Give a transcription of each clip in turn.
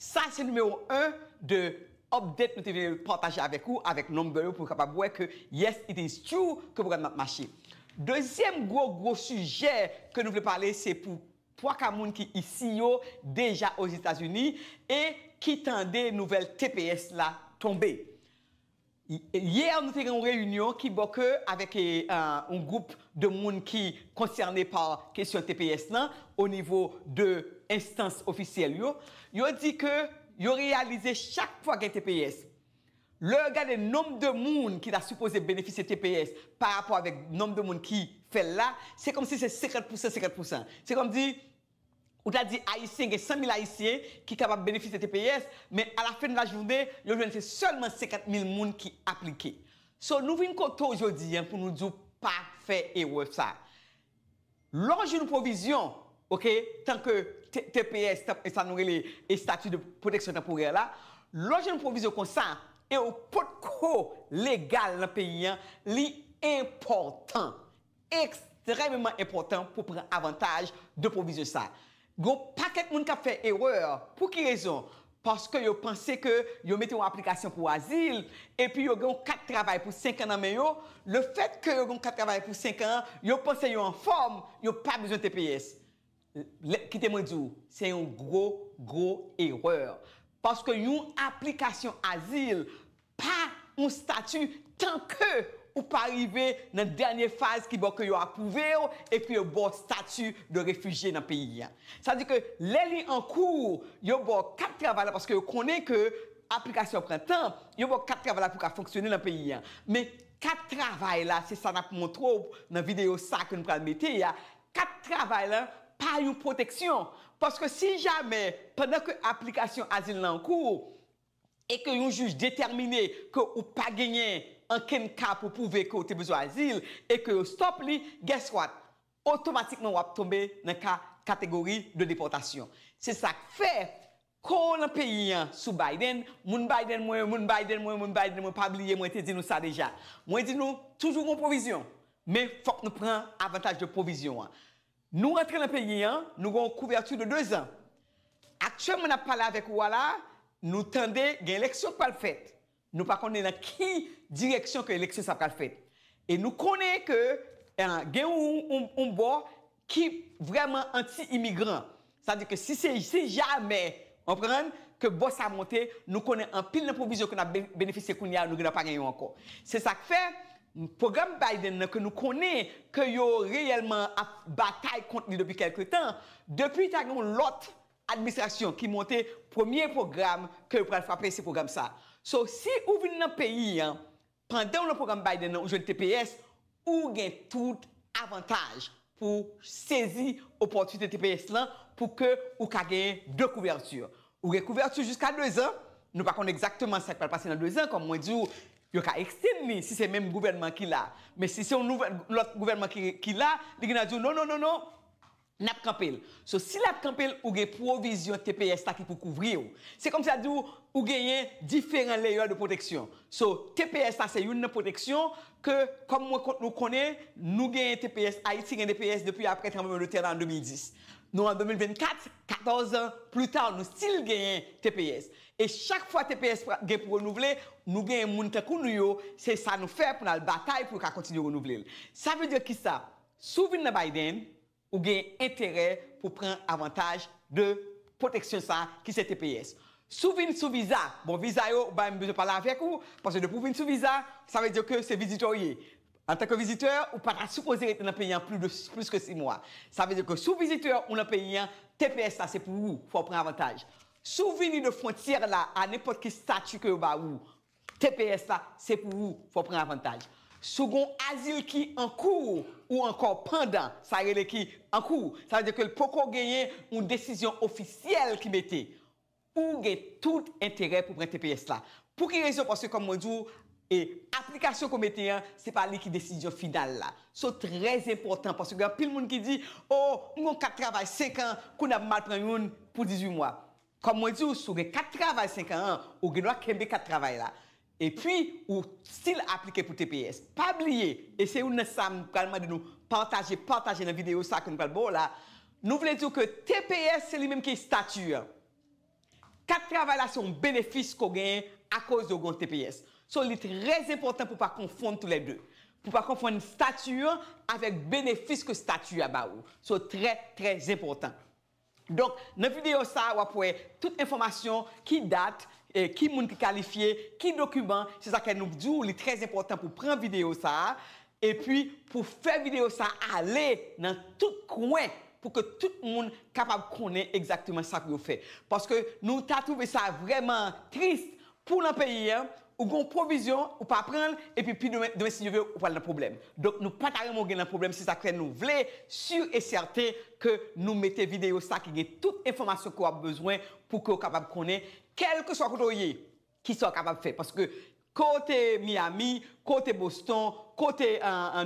Sa se numewo 1 de update nou te vle pataje avèk ou avèk number yo pou kapab wè ke yes it is true ke pwogram nan ap mache. Dezyèm gwo gwo sijè ke nou vle pale se pou 3 ka moun ki isi yo deja Ozetazini e ki tande nouvèl tps la tonbe. Hier nou te gen yon reyinyon ki bò ke avèk yon gwoup de moun ki konsène pa kesyon tps lan o nivo de enstans ofisyèl yo, yo di ke yo reyalize chak fwa gen tps, lè yo gade nonb de moun ki ta sipoze benefisye tps pa rapò avèk nonb de moun ki fè l la, se kòmsi se 50 pousan 50 pousan. Se kòmsi Ou ta di Ayisyen gen 100 mil Ayisyen ki kapab benefisye tps, men a la fen de la jounen, yo jwenn se sèlman 50 mil moun ki aplike. So nou vin kote w jodi an pou nou di w pa fè erè sa. Lè w jwenn pwovizyon, ok, tanke tps, sa nou rele estati de pwoteksyon tanporè la, lè w jwenn pwovizyon konsa e w potko legal nan peyi an, li enpòtan, Ekstrèmeman enpòtan pou pran avantaj de pwovizyon sa. Gen yon pakèt moun k ap fè erè. Pou ki rezon? Paske yo panse ke yo mete yon aplikasyon pou azil, epi yo gen yon kat travay pou senkan nan men yo, lefètke yo gen yon kat travay pou senkan, yo panse yo anfòm, yo pa bezwen tps. Kite mwen di w, se yon gwo, gwo erè. Paske yon aplikasyon azil pa yon stati tan ke ou pa rive nan dènye faz ki bò ke yo apwouve w e ke yo ba w stati de refijye nan peyi a. Sa di ke lè li an kou, yo ba w kat travay la paske yo konnen ke aplikasyon an pran tan, yo ba w kat travay la pou w ka fonksyone nan peyi a. Men kat travay la, se sa n ap montre w nan videyo sa ke nou pral mete a, Kat travay lan pa yon pwoteksyon, paske si jamè, pandan ke aplikasyon azil lan an kou, e ke yon jij detèmine ke ou pa genyen ankenn ka pou pwouve ke ou te bezwen azil, e ke yo stop li, guess what? Otomatikman w ap tonbe nan ka kategori de depòtasyon. Se sa k fè, Kô lan peyi an sou Biden, moun Biden mwen, moun Biden mwen, moun Biden mwen pa bliye mwen te di nou sa deja. Mwen di nou toujou gon pwovizyon, men fôk nou pran avantaj de pwovizyon an. Nou rantre lan peyi an, nou gon kouvèti de 2 zan. Aktyèlman nap pale avèk ou a la, nou tande gen eleksyon k pral fèt. Nou pa konnen nan ki direksyon ke eleksyon sa pral fèt. E nou konnen ke gen yon bò ki vrèman anti imigran. Sa di ke si se si jamè, ou konprann, ke bò sa monte, nou konnen anpil nan pwovizyon ke nap benefisye kounye a, nou gen nan pa gen yo ankò. Se sak fè, pwogram Biden nan ke nou konnen ke yo reyèlman ap batay kont li depi kèlke tan, depi ta gen yon lòt Administration ki monte premye program ke yo pral frape se program sa. So si ou vin nan peyi an pandan ou nan program Biden an ou jwenn tps ou gen tout avantaj pou sezi opòtinite tps lan pou ke ou ka genyen 2 kouvèti. Ou gen kouvèti jiska 2 zan, nou pa konn egzakteman sak pral pase nan 2 zan kòm mwen di ou yo ka ekstenn li si se menm gouvènman ki la men si se yon lòt gouvènman ki la li gen nan di w non non non non Nap kanpe l. So si lap kanpe l ou gen pwovizyon tps la ki pou kouvri w. Se kòmsi ap di w ou genyen diferan leyè de pwoteksyon. So tps la se youn nan pwoteksyon ke kòm mwen kont nou konnen nou genyen tps Ayiti gen tps depi aprè tranbleman de tè la an 2010. Nou an 2024, 14 an pli ta nou stil genyen tps. E chak fwa tps pra gen pou renouvle nou genyen moun tankou nou yo se sa nou fè pou n al batay pou yo ka kontinye renouvle l. Sa vle di kisa? Si w vin nan Biden, ou gen enterè pou w pran avantaj de pwoteksyon sa a ki se tps. Si w vin sou viza, bon viza yo ou pa menm bezwen pale avèk ou, paske depi w vin sou viza, sa vle di ke se vizitè w ye. Antanke vizitè, ou pa ta sipoze rete nan peyi an pli de plis ke 6 mwa. Sa vle di ke si w vizitè, ou nan peyi an, tps la se pou ou, fò w pran avantaj. Si w vini de fwontyè la a nenpòt ki stati ke yo ba ou, Tps la se pou ou fò pran avantaj si w gon azil ki an kou ou ankò pandan sa rele ki an kou sa vle di ke l poko genyen yon desizyon ofisyèl ki mete ou gen tout enterè pou pran tps la pou ki rezon paske kòm mwen di w e aplikasyon ke w mete an se pa li ki desizyon final la so trè enpòtan paske gen anpil moun ki di o m gon kat travay 5 an kounye a m mal pran youn pou 18 mwa Kòm mwen di w si w gen kat travay 5 an an, ou gen dwa kenbe kat travay la. Epi ou stil aplike pou tps. Pa bliye, e se youn nan sa m pral mande nou pataje, pataje nan videyo sa ke m pral ba w la, nou vle di w ke tps se li menm ki estati an. Kat travay la se yon benefis ke w genyen akoz de w gen yon tps. So li trè enpòtan pou w pa konfonn tou lè 2. Pou w pa konfonn estati an avèk benefis ke estati a ba ou. So trè, trè enpòtan. Donk nan videyo sa a wap wè tout enfòmasyon, ki dat, ki moun ki kalifye, ki dokiman, se sa kè nou k di w li trè enpòtan pou pran videyo sa a, epi pou fè videyo sa a ale nan tout kwen pou ke tout moun kapab konnen egzakteman sa pou yo fè. Paske nou ta twouve sa vrèman tris Pou w nan peyi a, ou gen yon pwovizyon, ou pa pran l, epi pi demen, demen si Dye vle, ou pral nan pwoblèm. Donk nou pa ta renmen w gen nan pwoblèm, se sa k fè nou vle sur et certain ke nou mete videyo sa ki gen tout enfòmasyon ke w ap bezwen pou ke w kapab konnen kèlkeswa kote w ye, kisa w kapab fè. Paske ke w te Miami, Kote Boston, kote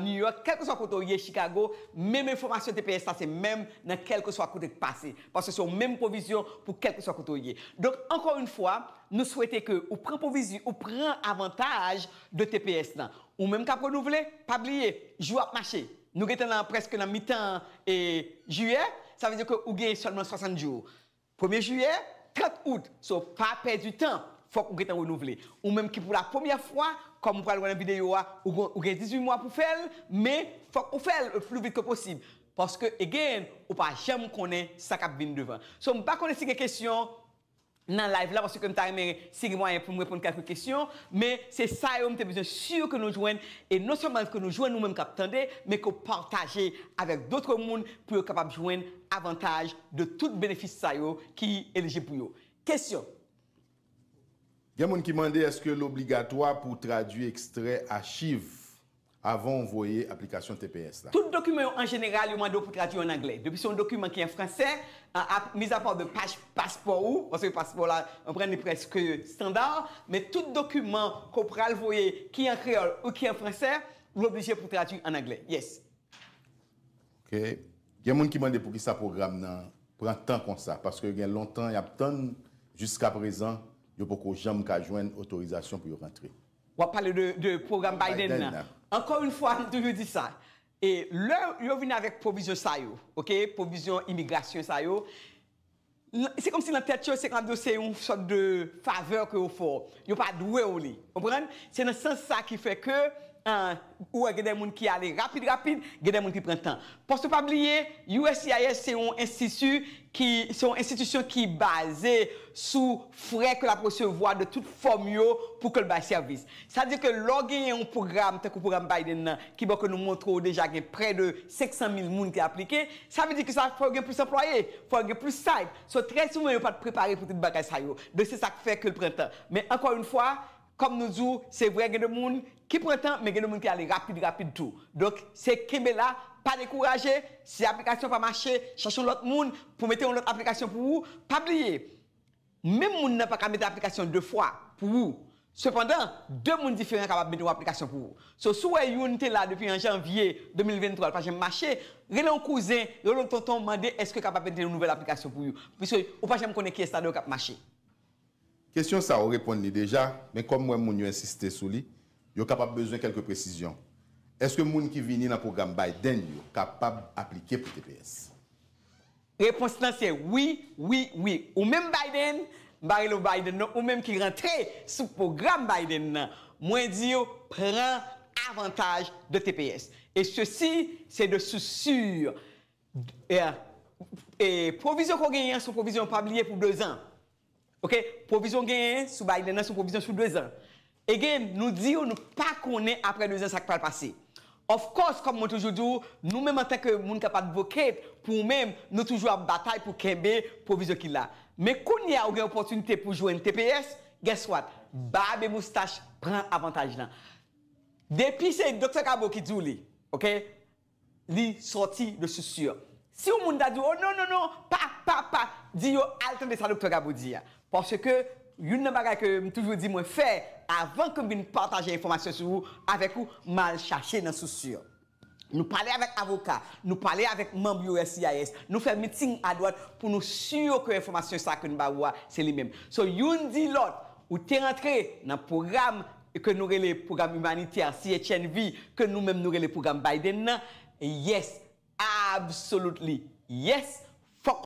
New York, kèlkeswa kote w ye Chicago, menm enfòmasyon tps la se menm nan kèlkeswa kote k pase, paske se yon menm pwovizyon pou kèlkeswa kote w ye. Donk ankò yon fwa, nou swete ke ou pran pwovizyon, ou pran avantaj de tps lan. Ou menm k ap renouvle, pa bliye, jou ap mache. Nou gentan nan prèske nan mitan Jiyè, sa vle di ke ou genyen sèlman 60 jou. Premye jiyè, 30 out, so pa pèdi tan, fòk ou gentan renouvle. Ou menm ki pou la premyè fwa, kòm ou pral wè nan videyo a, ou gen 18 mwa pou fèl, men fòk ou fèl le plus vite que possible. Paske again, ou pa janm konnen sa kap vin devan. So m pa konnen si gen kesyon nan live la paske m ta renmen si gen mwayen pou m reponn kèlke kesyon, men se sa yo m te bezwen sur ke nou jwenn e non sèlman ke nou jwenn ou menm kap tande, men ke w pataje avèk d'autres moun pou yo kapab jwenn avantaj de tout benefis sa yo ki elijib pou yo. Kesyon. Gen moun ki mande èske l obligatwa pou w tradui ekstrè achiv avan w voye aplikasyon tps la. Tout dokiman yo an jeneral yo mande w pou tradui yo an anglè. Depi se yon dokiman ki an fransè, mizapa de paj paspò ou, paske paspò la konprann li prèske standa, men tout dokiman ke w pral voye ki an kreyòl ou ki an fransè, ou oblije pou w tradui an anglè. Yes. Ok gen moun ki mande poukisa pwogram nan pran tan konsa paske gen lontan yap tann jiska prezan yo poko janm ka jwenn otorizasyon pou yo rantre. Wap pale de pwogram Biden nan. Ankò yn fwa m toujou di sa e lè yo vin avèk pwovizyon sa yo ok pwovizyon imigrasyon sa yo Se kòmsi nan tèt yo se kab yo se yon sòt de favè ke yo fè w. Yo pa dwe w li. Konprann? Se nan sans sa ki fè ke ou wè gen de moun ki ale rapid rapid, gen de moun ki pran tan. Paske pa bliye, uscis se yon enstiti ki, se yon enstitisyon ki baze sou frè ke l ap resevwa de tout fòm yo pou ke l bay sèvis. Sa di ke lè w genyen yon pwogram tankou pwogram Biden nan ki bo ke nou montre w deja gen prè de 500 mil moun ki aplike, Sa vle di ke sa fè ou gen plis anplwaye, fè ou gen plis site. So trè souvan yo pa t prepare pou tout bagay sa yo. Donk se sa k fè ke l pran tan. Men ankò yon fwa, kòm nou di w, se vre gen de moun ki pran tan, men gen de moun ki ale rapid rapid tou. Donk se kenbe la, pa dekouraje, si aplikasyon pa mache, chache yon lòt moun pou mete yon lòt aplikasyon pou ou. Pa bliye, Menm moun nan pa ka mete aplikasyon 2 fwa pou ou. Sepandan, 2 moun diferan kapab mete yon aplikasyon pou ou. So, si w wè youn te la depi an janvye 2023 l pa janm mache, rele yon kouzen, rele yon tonton mande èske yo kapab mete yon nouvèl aplikasyon pou you. Piske ou pa janm konnen kiyès ladan yo k ap mache. Kesyon sa ou reponn li deja, men kòm m wè moun yo ensiste sou li, yo kapab bezwen kèlke presizyon. Èske moun ki vini nan pwogram Biden yo kapab aplike pou tps? Repons lan se wi, wi, wi. Ou menm Biden, m pa rele w Biden non, ou menm ki rantre sou pwogram Biden nan, mwen di w pran avantaj de tps. E sesi se de sous sur. E pwovizyon ke w genyen an se yon pwovizyon, pa bliye pou dezan. Ok pwovizyon genyen sou Biden nan sou pwovizyon sou 2 zan. Again nou di yo nou pa konnen apre 2 zan sak pral pase. Of course kom mwen toujou di w nou menm antanke moun kap advocate pou w menm nou toujou ap batay pou kenbe pwovizyon ki la. Men kounye a ou gen opotinite pou jwenn tps guess what bab e moustach pran avantaj lan. Depi se Doktè Cabo ki di w li ok. li sòti de sous sur. Si yon moun ta di w, o non, non, non, pa, pa, pa, di yo al tande sa Doktè Gabo di a. Paske youn nan bagay ke m toujou di mwen fè avan ke m vin pataje enfòmasyon sou ou, avèk ou, m al chache nan sous sur. Nou pale avèk avoka, nou pale avèk manm uscis, nou fè meeting adwat pou nou sur ke enfòmasyon sa ke n ba ou a se li menm. So youn di lòt, ou te rantre nan pwogram, ke nou rele pwogram imanitè CHNV ke nou menm nou rele pwogram Biden nan yes absolutely yes fòk